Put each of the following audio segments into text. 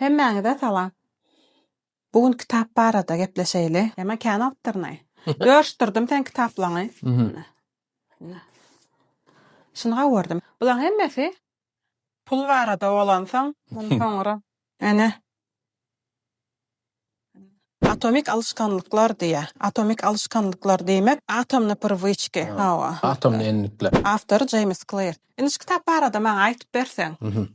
Hemmäňize salam. Bu gün kitap barada gepleşeýli. Emma kän awtorny. Görüşdirdim seň kitaplaňy. Şuny gowurdym. Bulaň hemmesi Pul barada bolansoň, muny soňra. Ene. Atomik alyşganlyklar diýýär. Atomik alyşganlyklar diýmek, atomny prywıçki, hawa. Atomny enlikler. Awtory Jeýms Kleýr. Indi şu kitap barada maňa aýtyp berseň,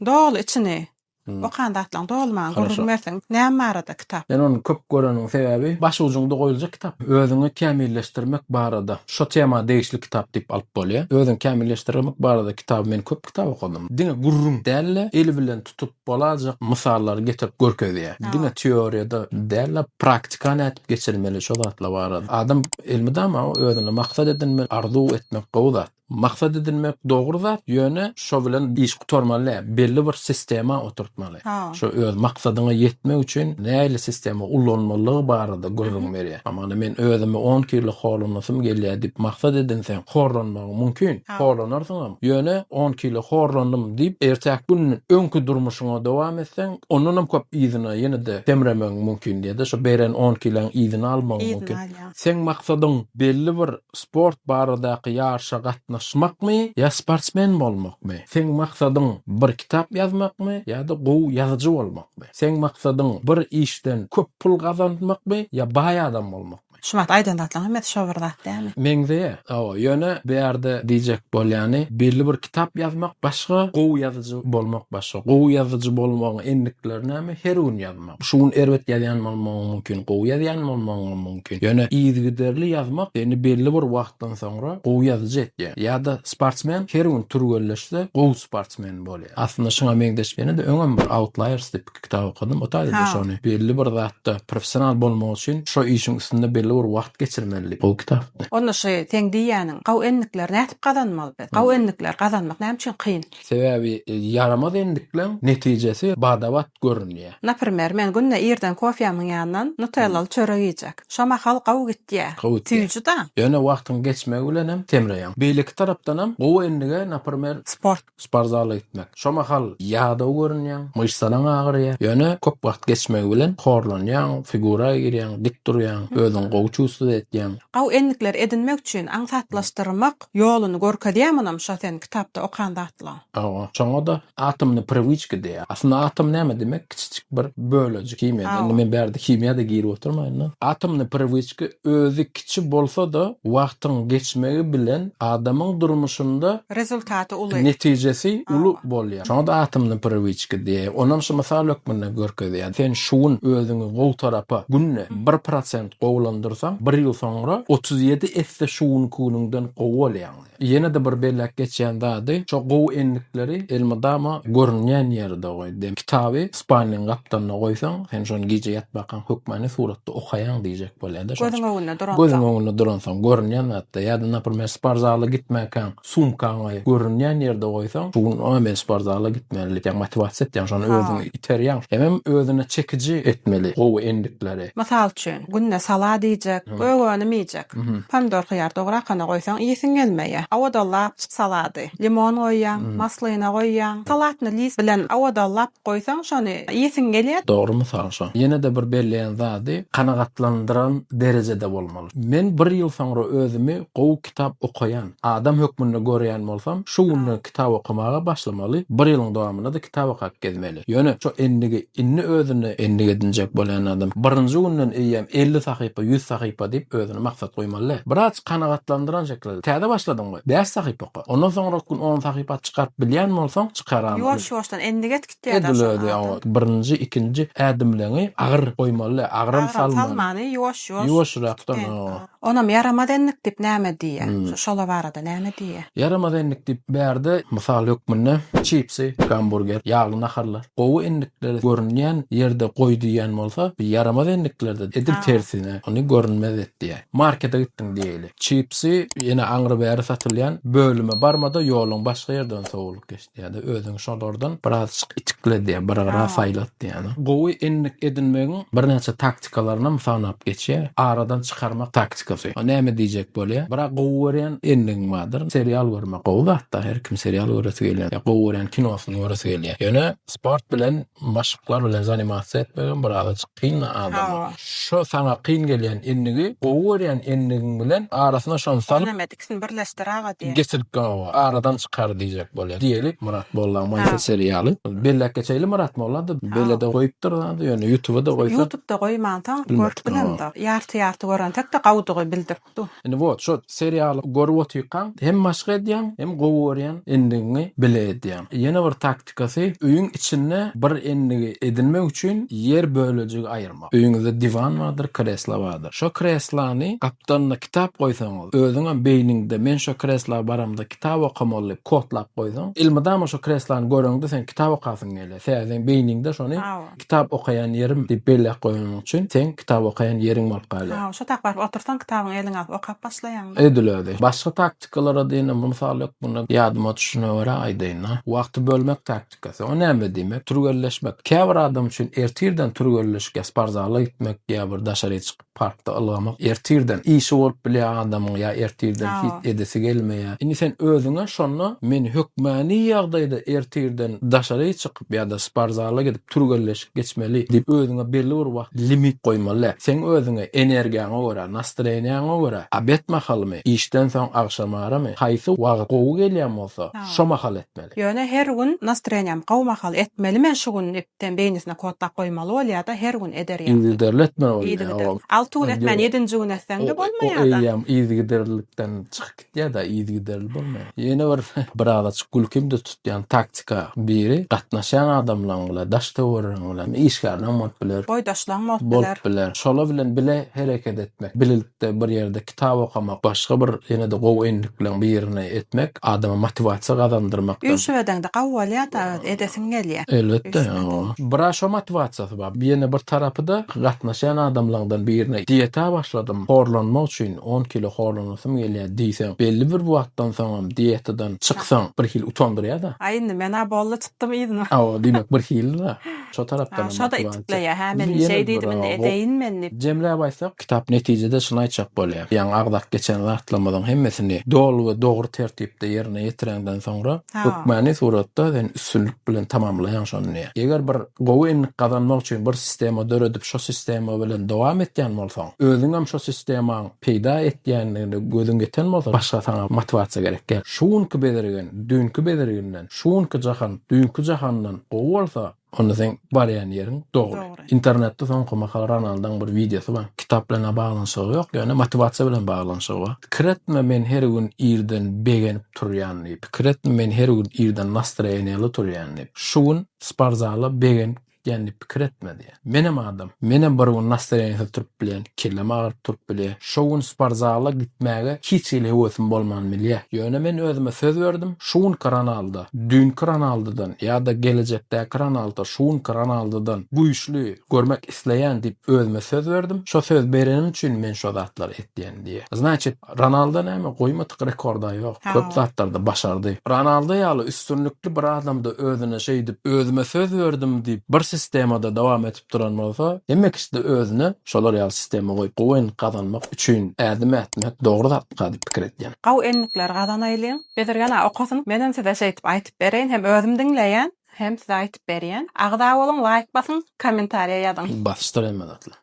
doly içini okan zatlaň doly maňa gürrüň berseň, näme barada? kitap. Men ony köp göreniň sebäbi baş ujuňda goýuljak kitap. Özüňi kämilleşdirmek barada şo tema degişli kitap diýip alyp bolýar. Özüňi kämilleşdirmek barada kitaby men köp kitap okadym. Diňe gürrüň däl-de, el bilen tutup bolajak mysallary getirip görkezýär. Diňe teoriýada däl-de, praktika nädip geçirmeli şo zatlar barada. Adam elmydama özüne maksat edinmeli, arzuw etmek gowy zat. Maksat edinmek dogry zat ýöne şo bilen iş gutarmaly däl belli bir sistema oturtmaly şo öz maksadyňa ýetmek üçin nähili sistema ulanmalygy barada gürrüň berýär hamana men özümi on kilo horlanasym gelýär diýip maksat edinseň horlanmagyň mümkin horlanarsyňam ýöne on kilo horlandym diýip ertäki gün öňki durmuşyňa dowam etseň ondanam köp yzyna ýenede semremegiň mümkin ýada şo beren on kiloň yzyny almagyň mümkin seň maksadyň belli bir Sport baradaky ýaryşa gatnaşmakmy ýa sportsmen bolmakmy? Seň maksadyň bir kitap ýazmakmy ýa-da gowy ýazyjy bolmakmy? Seň maksadyň bir işden köp pul gazanmakmy ýa baý adam bolmakmy? Şu wagt aýdan zatlaň hemmesi şo bir zat dämi? Meňzeýär, hawa, ýöne bu ýerde diýjek bolýany, belli bir kitap ýazmak başga, gowy ýazyjy bolmak başga. Gowy ýazyjy bolmagyň endikleri näme? Her gün ýazmak. Şu gün erbet ýazýan bolmagyň mümkin, gowy ýazýan bolmagyňam mümkin. Ýöne yzygiderli ýazmak seni belli bir wagtdan soňra gowy ýazyjy etýär. Ýa-da sportsmen her gün türgenleşse gowy sportsmen bolýar. Aslynda şuňa meňzeş ýene-de öňem bir Outliers diýip kitap okadym. Ota ýerde şony belli bir zatda professional bolmak üçin şo işiň üstünde belli bir wagt geçirmeli diýip. Gowy kitapdy. Onda şu seň diýýäniň gowy endikleri nädip gazanmaly biz? Gowy endikleri gazanmak näme üçin kyn? Sebäbi ýaramaz endikleň netijesi bada-bat görünýä. Naprimer, men günde irden kofýamyň ýanyndan nutellaly çörek iýjek. Şo mahal gowy gitýä. Gowy gitýä. Süýji-da. Ýöne wagtyň geçmegi bilenem semreýäň. Beýleki tarapdanam gowy endige, naprimer, Sport. sportzala gitmek. Şo mahal ýadaw görünýäň, myşsalaň agyrýa. Ýöne köp wagt geçmegi bilen horlanýaň, figura girýäň, dik durýaň, özüňi gowy çuwsuz edýäň. Gowy endikleri edinmek üçin aňsatlaşdyrmak. Ýoluny görkezýä munam şo sen kitapda okan zatlaň. Hawa, şoňada atomny priwiçki diýýär. Aslynda atom näme diýmek? Kiçijik bir bölejik himiýada. Indi men bärde himiýada girip oturmaýyn-da. Atomny priwiçki özi kiçi bolsa-da wagtyň geçmegi bilen adamyň durmuşynda Rezultaty uly. Netijesi uly bolýar. Şoňada atomny priwiçki diýýär. Onam şu mysal hökmünde görkezýär. Sen şu gün özüňi gowy tarapa günde bir prosent. gowulandyrsaň, bir ýyl soňra otuz ýedi esse şu günkiňiňden gowy bolýaň. Ýene-de bir belläp geçýän zady, şo gowy endikleri elmydama görünýän ýerde goý. Dem, kitaby spalniň gapdalynda goýsaň, sen şony gije ýatmakan hökmany suratda okaýaň diýjek bolýar-da. Gözüň öňünde duransoň. Gözüň öňünde duransoň, görünýän zatda. Ýa-da, naprimýer, sport zala gitmäkäň, Sumkaňy görünýän ýerde goýsaň, şu gün a men sportzala gitmeli diýýäň, motiwasiýa etýäň, şony özüňi iterýäň. Hemem özüne çekiji etmeli gowy endikleri. Mysal üçin, günde salaa diýjek, gök önüm iýjek. Pomidor, hyýar dogry akana goýsaň iýesiň gelmeýär. Awadalap çyk salady. Limon goýýaň, maslyna goýýaň. Salatny list bilen awadalap goýsaň şony iýesiň gelýär. Dogry mysal şo. Ýene-de bir belleýän zady, kanagatlandyran derejede bolmaly. Men bir ýyl soňra özümi gowy kitap okaýan adam hökmünde göreýän bolsam, şu günde kitap okamaga başlamaly, bir ýylyň dowamynda-da kitap okap gezmeli. Ýöne şu endigi indi özüne endik edinjek bolýan adam birinji günden eýýäm elli sahypa, ýüz sahypa diýip özüne maksat goýmaly däl. Biraz kanagatlandyran şekilde, Täze başladyňmy? Bäş sahypa oka. Ondan soňrak gün on sahypa çykaryp bilýän bolsaň, çykaram. Ýuwaş-ýuwaşdan endik etgit diýýär-de Edil şoňa özi, hawa. adam. Birinji, ikinji ädimleňi agyr goýmaly däl, agyram Agyram salmaly. salmaly, ýuwaş-ýuwaş, Ýuwaşrakdan, kiçikden. hawa. Onam ýaramaz endik diýip näme diýýä? Şu şola barada näme diýýä? Ýaramaz endik diýip bärde mysal hökmünde çipsy, gamburger, ýagly naharlar, gowy endikleri görünýän ýerde goý diýýän bolsa, bu ýaramaz endiklerde edil tersine, ony görünmez et diýýä. Markete gitdiň diýeýli. Çipsy ýene aňry-bäri satylýan bölüme barmada ýoluň başga ýerden sowulyp geç. Ýa-da özüňi şolardan birazajyk itikledi, bir gyra saýlat diýýär. Gowy endik edinmegiň birnäçe taktikalaryny hem sanap geçýär. Aradan çykarmak taktikasy. Näme diýjek bolýar? Biraz gowy görýän endigiň bardyr. Serial görmek gowy zat-da. Her kim serial göresi gelýär. Ýa gowy görýän kinosyny göresi gelýär. Ýöne sport bilen, maşklar bilen zanimasiýa etmek hem birazajyk kyn adama. Şo saňa kyn gelýän endigi gowy görýän endigiň bilen arasyna şony salyp, Ikisini birleşdir aga diýer. Geçirip gawa aradan çykar diýjek bolýar. Diýeli Myrat Molla Maýsa seriýaly. Belläp geçeýli Myrat Molla-da belede goýupdyr zady ýöne ýutuba-da goýsa. Ýutubda goýmansoň görüp bilemdir. Ýarty ýarty görensek-de gowudygy bildirip dur. Indi wot şo seriýaly görüp otyrkaň hem maşk edýäň hem gowy görýän endigiňi bile edýäň. Ýene bir tak. praktikasy, öýüň içinde bir endigi edinmek üçin ýer bölejigi aýyrmak. Öýüňizde diwan bardyr, kreslo bardyr. Şo kreslony gapdalyna kitap goýsaňyz, özüňem beýniňde men şo kresla baramda kitap okamaly diýip kodlap goýsaň, elmydama şo kreslony göreňde sen kitap okasyň gelýär. Sebäbi seň beýniňde şony. Kitap okaýan ýerim diýip belläp goýanyň üçin, seň kitap okaýan ýeriň bolup galýar. Hawa, şo tak baryp otursaň, kitabyňy eliňe alyp okap başlaýaň-da. Edil özi. Başga taktikalara diýen hem mysal ýok munda. Ýadyma düşene görä aýdaýyn-a. Wagty bölmek taktikasy. O näme diýmek? Türgenleşmek. Käbir adam üçin ertirden türgenleşikýär, sport zala gitmek ýa bir daşary çykyp. Parkda ylgamak ertirden işi bolup bilýä adamyň ýa ertirden hiç edesi gelmeýä. Indi sen özüňe şonda men hökmany ýagdaýda ertirden daşary çykyp ýa-da sportzala gidip türgenleşik geçmeli diýip özüňe belli bir wagt limit goýmaly däl. Seň özüňe energiýaňa görä, nastreniýaňa görä obed mahalymy, işden soň agşamaramy, haýsy wagt gowy gelýän bolsa şo mahaly etmeli. Ýöne her gün nastreniýam gowy mahaly etmeli men şu gün diýip Sen beýnisine kodlap goýmaly bolýada her gün eder ýaly. Yzygiderli etmeli bolýa. Yzygiderli. Alty gün etmän ýedinji gün etseňde bolmaýada. O eýýäm yzygiderlilikden çykyp gitýäda yzygiderli bolmaýa. Ýene bir birazajyk gülkimde tutýan taktika biri gatnaşýan adamlaň bilen daş töweregiň bilen işgärleň bolup biler. Boýdaşlaň bolup biler. Bolup biler. Şolar bilen bile hereket etmek. Bilelikde bir ýerde Kitap okamak, başga bir ýene-de gowy endikleň birini etmek adama motiwasiýa gazandyrmakdan. Üýşüp edeňde gawy bolýada öz, edesiň gelýä. Elbetde, o. Bira şo motiwasiýasy bar. Ýene bir tarapy-da gatnaşýan adamlaňdan birine dieta başladym, horlanmak üçin on kilo horlanasym gelýä diýseň, belli bir wagtdan soňam dietadan çyksaň bir hili utandyrýada. Aý indi men-ä boldy çykdym yzyna. Hawa, diýmek bir hili-de şo tarapdanam motiwasiýa. Şo-da itikleýä, hä men indi şeý diýdim indi edeýin men diýip. Jemläp aýtsak, Kitap netijede şuny aýtjak bolýar, Ýaňy agzap geçen zatlarymyzyň hemmesini doly we dogry tertipde ýerine ýetireňden soňra, hökmany suratda sen üstünlik bilen tamamlaýaň şony diýýär. Eger bir gowy endik gazanmak üçin bir sistema döredip, şo sistema bilen dowam etýän bolsaň, özüňem şo sistemaň peýda etýändigine gözüň ýeten bolsa, başga saňa motiwasiýa gerek däl. Şu günki bezirgen, düýnki bezirginden, şu günki jahan, düýnki jahandan gowy bolsa, Onda seň barýan ýeriň dogry. Internetde soňky mahal Ronaldoň bir wideosy bar. Kitap bilen-ä baglanyşygy ýok, ýöne motiwasiýa bilen baglanyşygy bar. Pikir etme, men her gün irden begenip turýan diýip. Pikir etme, men her gün irden nastroýeniýaly turýan diýip. Şu gün sportzala begenip gitýän diýip pikir etme diýýär. Menem adam. Menem bir gün nastarenisiz turup bilýän, kellem agyryp turup bilýä. Şo gün sportzala gitmäge hiç hili höwesim bolman bilýä. Ýöne men özüme söz berdim, şu günki Ronaldo, düýnki Ronaldodan ýa-da gelejekdäki Ronaldo şu günki Ronaldodan güýçli görmek isleýän diýip özüme söz berdim. Şo söz berenim üçin men şo zatlary etýän diýýä. Znaçit, Ronaldo näme, goýmadyk rekorda ýok. Köp zatlarda başardy. Ronaldo ýaly üstünlikli bir adamda özüne şeýdip, özüme söz berdim diýip, bir sistemada dowam edip duran bolsa, hemme kişide özüne şolar ýaly sistema goýup, gowyny gazanmak üçin ädim ätmek dogry zatmyka diýip pikir edýän. Gowy endikleri gazanaýlyň. Bezirgen-a okasyn, menem size şeýdip aýtyp bereýin, hem özüm diňleýän, hem size aýtyp berýän. Agza boluň, laýk basyň, kommentariýa ýazyň. Basyşdyr hemme zatlar.